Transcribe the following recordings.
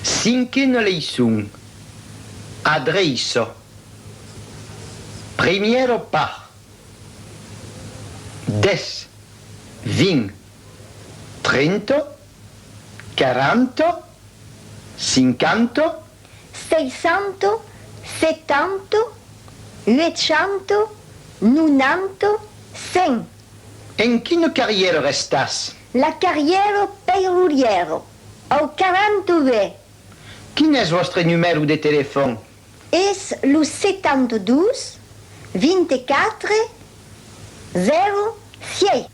Cinquena leiçon, adreiça. Primièra part, dètz, vint, trenta, quaranta, cinquanta. Seisanta, setanta, uechanta, nonanta, cent. En quina carrièra restàs? La carrièra peirurièra. Au 42. Quin es vòstre numèro de telefòn? Es lo 72 24 0 sièit.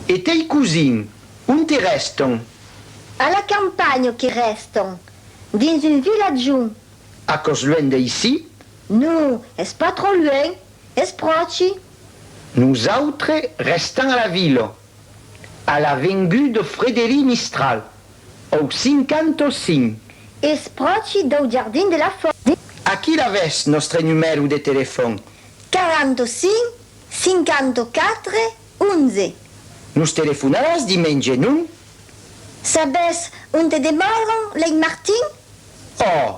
E tei cosins, onte rèston? A la campanha que rèston, dins un vilatjon. Aquò's luènh d'aicí? Non, es pas tròp luènh, es pròchi. Nosautres rèstam a la vila. A la vengut de Frederic Mistral, au 55. Espròchi dau jardin de la Fòrja. Aquí l'avètz, nòstre numèro de telefòn. 45 54 11. Nos telefonaràs dimenge, non? Sabètz onte demòran lei Martin? Òh!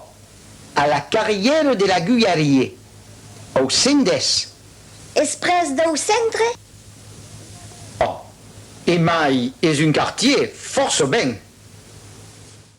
A la carrièra de l'Agullarier, au 110. Es pres dau centre? Òc. Emai es un quartier fòrça ben.